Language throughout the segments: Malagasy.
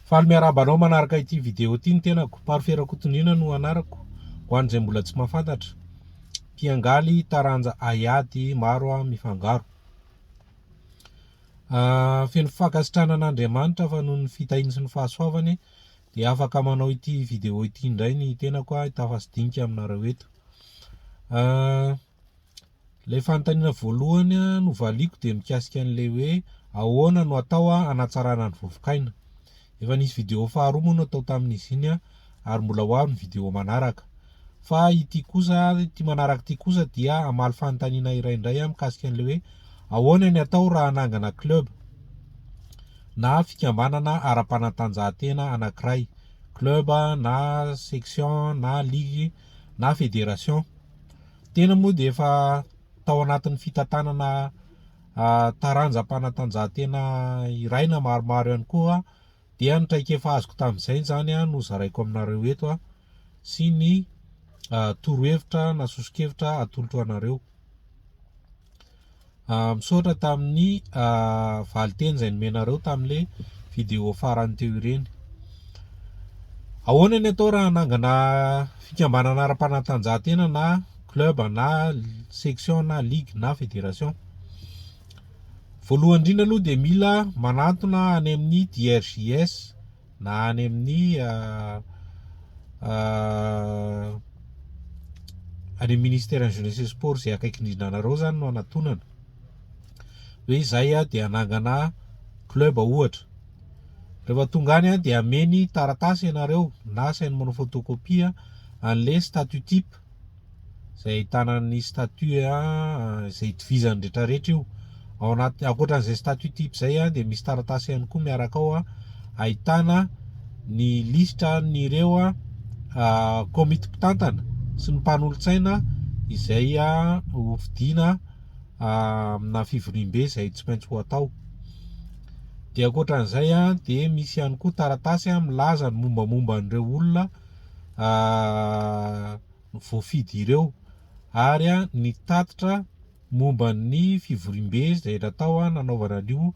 Faly miarahaba anao manaraka ity vidéo ity ny tenako, Parfait Rakotondriana no anarako, ho an'izay mbola tsy mahafantatra, mpiangaly taranja haiady maro aho mifangaro. Feno fankasitrahana an'Andriamanitra fa noho ny fitahiany sy ny fahasoavany dia afaka manao ity vidéo ity indray ny tenako, hitafa sy dinika aminareo eto. Ilay fanontaniana voalohany no valiako dia mikasika an'ilay hoe ahoana no atao hanatsarana ny vovokaina. Efa nisy video faharoa moa natao tamin'izy iny ary mbola ho avy ny video manaraka. Fa ity kosa, ity manaraka ity kosa dia hamaly fanontaniana iray indray mikasika an'ilay hoe ahoana ny atao raha hanangana club na fikambanana ara-panatanjahantena anankiray, club na section na ligue na fédération. Tena moa dia efa tao anatin'ny fitantanana taranjam-panatanjahantena iray na maromaro ihany koa dia ny traikefa azoko tamin'izay izany no zaraiko aminareo eto sy ny torohevitra na soso-kevitra atolotro anareo. Ah, misaotra tamin'ny valinteny izay nomenareo tamin'ilay vidéo farany teo ireny. Ahoana ny atao raha hanangana fikambanana ara-panatanjahantena na club na section na ligue na fédération? Voalohany indrindra aloha dia mila manantona any amin'ny DRJS na any amin'ny any amin'ny ministeran'ny jeunesse et sport izay akaiky indrindra anareo zany no anatonana hoe izay a dia hanangana club ohatra rehefa tonga any a dia ameny taratasy ianareo na asainy manao photocopie an'le statut type izay ahitana ny statut izay itovizan'ny rehetra rehetra io ao anaty ankoatran'izay statut type izay dia misy taratasy ihany koa miaraka ao ahitana ny lisitra n'ireo komity mpitantana sy ny mpanolotsaina izay hofidiana amina fivoriambe izay tsy maintsy ho atao dia ankoatran'izay dia misy ihany koa taratasy milaza ny mombamomba an'ireo olona voafidy ireo ary nitatitra momba ny fivoriambe izay natao nanaovana an'io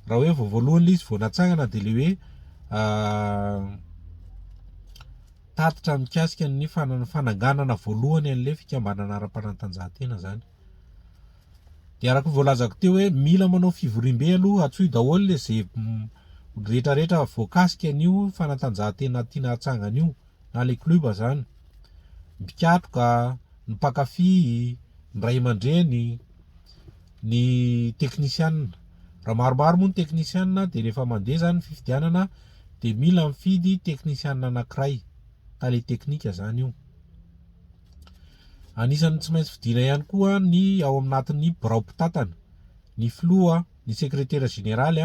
raha hoe vao voalohany ilay izy vao natsangana dia ilay hoe tatitra mikasika ny fananganana voalohany an'ilay fikambanana ara-panatanjahantena izany. Dia araka ny voalazako teo hoe mila manao fivoriambe aloha hatsoy daholo le ze rehetra rehetra voakasika an'io fanatanjahantena tiana hatsangana io na le club zany, ny mpikatroka, ny mpankafy, ny ray aman-dreny, ny teknisianina, raha maromaro moa ny teknisianina dia rehefa mandeha zany ny fifidianana dia mila mifidy teknisianina anankiray, tale teknika zany io. Anisan'ny tsy maintsy fidina ihany koa ny ao anatin'ny birao mpitantana, ny filoha, ny sekretera jeneraly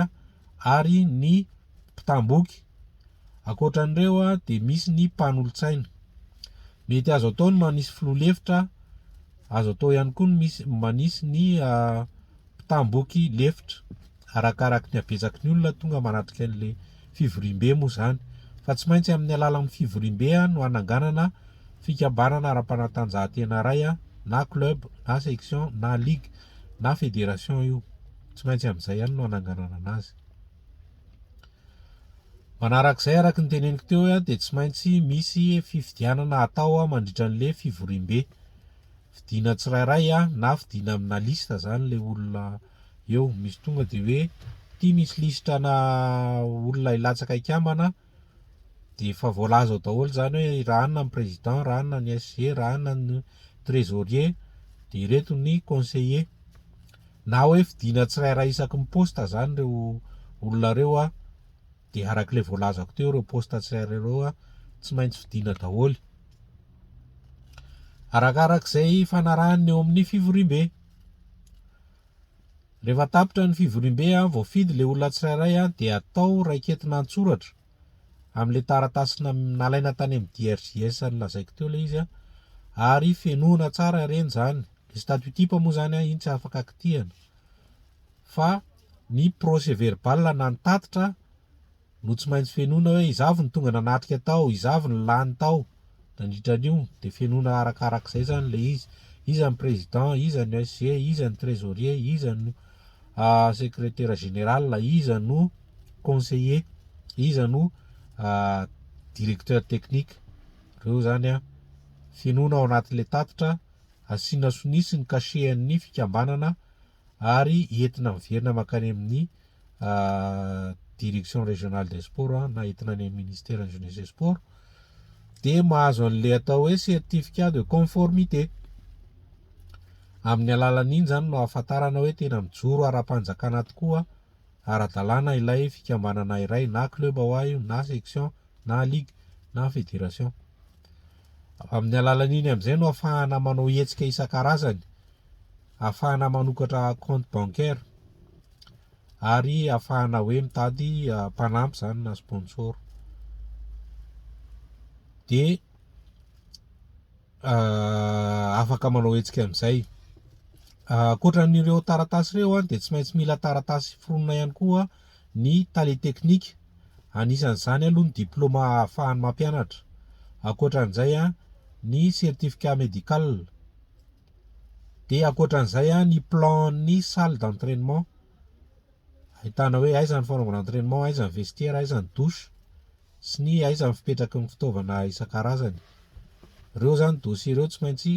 ary ny mpitam-boky. Ankoatra an'ireo dia misy ny mpanolotsaina. Mety azo atao ny manisy filoha lefitra, azo atao ihany koa ny misy manisy ny mpitam-boky lefitra. Arakaraky ny habetsaky ny olona tonga manatrika an'ilay fivoriambe moa izany, fa tsy maintsy amin'ny alalan'ny fivoriambe no hananganana fikambanana ara-panatanjahantena iray na club na section na ligue na fédération io, tsy maintsy amin'izay ihany no hananganana anazy. Manarak'izay araky ny teneniko teo hoe dia tsy maintsy misy fifidianana atao mandritra an'ilay fivoriambe, fidiana tsirairay na fidiana amina liste izany ilay olona. Eo misy tonga dia hoe ity misy lisitra ana olona hilatsaka hikambana dia efa voalaza ao daholo izany hoe raha anona ny président, raha anona ny SG, raha anona ny trésorier dia ireto ny conseiller. Na hoe fidina tsirairay isaky ny poste izany ireo olona ireo a, dia araka ilay voalazako teo ireo poste tsirairay ireo a, tsy maintsy fidina daholo. Arakarak'izay fanarahany ny eo amin'ny fivoriambe. Rehefa tapitra ny fivoriambe an, voafidy ilay olona tsirairay an, dia atao raiketina an-tsoratra amin'ilay taratasy nam, nalaina tany amin'ny DRJS nolazaiko teo ilay izy an, ary fenoina tsara ireny izany. Ny statut type moa izany an, iny tsy afaka kitihana. Fa ny procès verbal na ny tatitra an, no tsy maintsy fenoina hoe iza avy no tonga nanatrika tao, iza avy no lany tao nandritra an'io, dia fenoina arakarak'izay zany le izy, iza ny président, iza no SG, iza ny trésorier, iza no secrétaire général, iza no conseiller, iza no directeur technique, reo zany an fenoina ao anatin'le tatitra, asiana sonia sy ny cachet an'ny fikambanana. ary entina miverina mankany amin'ny direction régionale des sports na entina any amin'ny ministeran'ny jeunesse et sport dia mahazo an'ilay atao hoe certificat de conformité amin'ny alalan'iny zany no ahafantarana hoe tena mijoro ara-panjakana tokoa ara-dalàna ilay fikambanana iray na club hoa io na section na ligue na fédération amin'ny alalan'iny amin'izay no ahafahana manao hetsika isan-karazany ahafahana manokatra compte bancaire ary ahafahana hoe mitady ah, mpanampy zany na sponsor de ah, afaka manao hetsika amin'izay ah, ankoatra an'ireo taratasy ireo an de tsy maintsy mila taratasy foronina ihany koa ny tale teknika anisan'izany aloha ny diplôma ahafahany mampianatra ankoatra an'izay an ny certificat médical Dia ankoatran'izay a, ny plan-n'ny salle d'entrainement, ahitana hoe aiza ny fanaovana entrainement, aiza ny vestiaire, aiza ny douche, sy ny aiza ny fipetraky ny fitaovana isan-karazany. Ireo izany dossier ireo tsy maintsy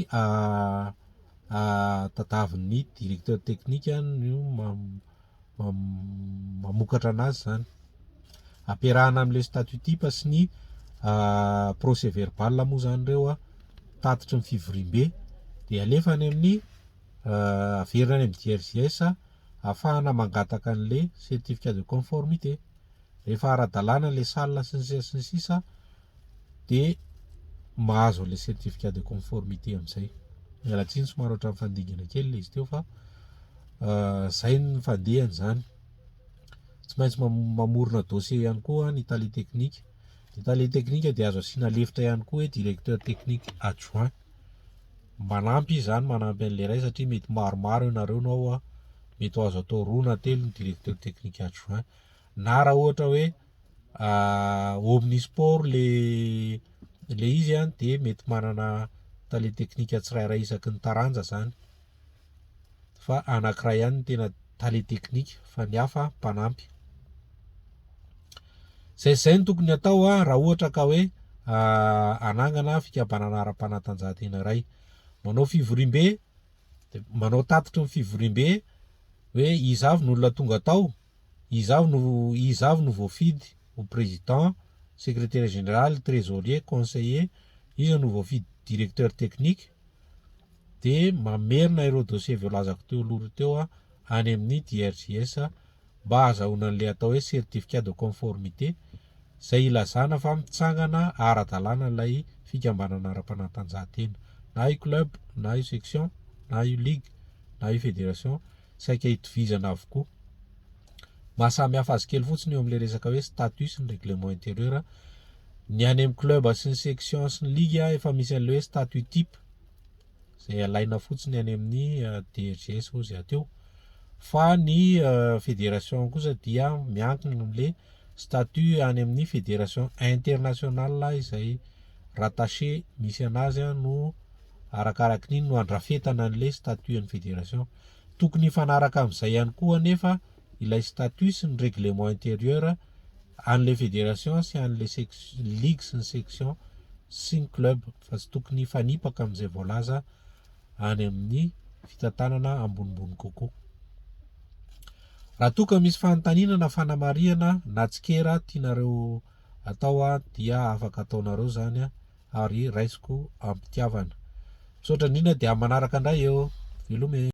tadavin'ny directeur technique no ma- mamokatra anazy izany. Ampiarahana amin'ilay statut type sy ny procès verbal moa izany ireo tatitry ny fivoriambe dia alefa any amin'ny averina any amin'ny DRJS ahafahana mangataka an'ilay certificat de conformité. Rehefa ara-dalàna ilay salle sy ny sisa sy ny sisa. dia mahazo an'ilay certificat de conformité amin'izay. Miala tsiny somary ohatran'ny fandingana kely ilay izy teo fa izay ny fandehany izany. Tsy maintsy mamorona dossier ihany koa ny tale teknika. Ny tale teknika dia azo asiana lefitra ihany koa hoe directeur technique adjoint. Manampy izy izany, manampy an'ilay iray satria mety maromaro ianareo no ao, mety ho azo atao roa na telo ny directeur technique adjoint. Na raha ohatra hoe Omnisport ilay izy dia mety manana tale teknika tsirairay isaky ny taranja izany fa anankiray ihany no tena tale teknika fa ny hafa mpanampy. Izay sy izay no tokony hatao raha ohatra ka hoe hanangana fikambanana ara-panatanjahantena iray. Manao fivoriambe, manao tatitry ny fivoriambe hoe iza avy no olona tonga tao. Izaho no izaho no voafidy ho président, secrétaire général, trésorier, conseiller, iza no voafidy directeur technique de mamerina ireo dossier voalazako teo aloha ireo teo aho any amin'ny DRJS mba ahazahoana an'ilay atao hoe certificat de conformité, izay ilazana fa mitsangana ara-dalàna ilay fikambanana ara-panatanjahantena. Na io club, na io section, na io ligue, na io fédération, saika itovizana avokoa. Mahasamihafa azy kely fotsiny eo amin'ilay resaka hoe statut sy ny règlement intérieur. Ny any amin'ny club sy ny section sy ny ligue efa misy an'ilay hoe statut type. izay alaina fotsiny any amin'ny DGS ozy aty eo fa ny fédération kosa dia miankina amin'le statut any amin'ny fédération international izay rattaché misy anazy no arakaraky ny no andrafetana an'le statut an'ny fédération tokony hifanaraka amin'izay ihany koa anefa ilay statut sy ny règlement intérieur an'ilay fédération sy an'ilay sec- ligue sy ny section sy ny club fa tsy tokony hifanipaka amin'izay voalaza any amin'ny fitantanana ambonimbony kokoa. Raha toa ka misy fanontaniana na fanamarihana na tsikera tianareo atao a dia afaka ataonareo zany a ary raisiko am-pitiavana. Misaotra indrindra dia manaraka indray eo. Veloma e!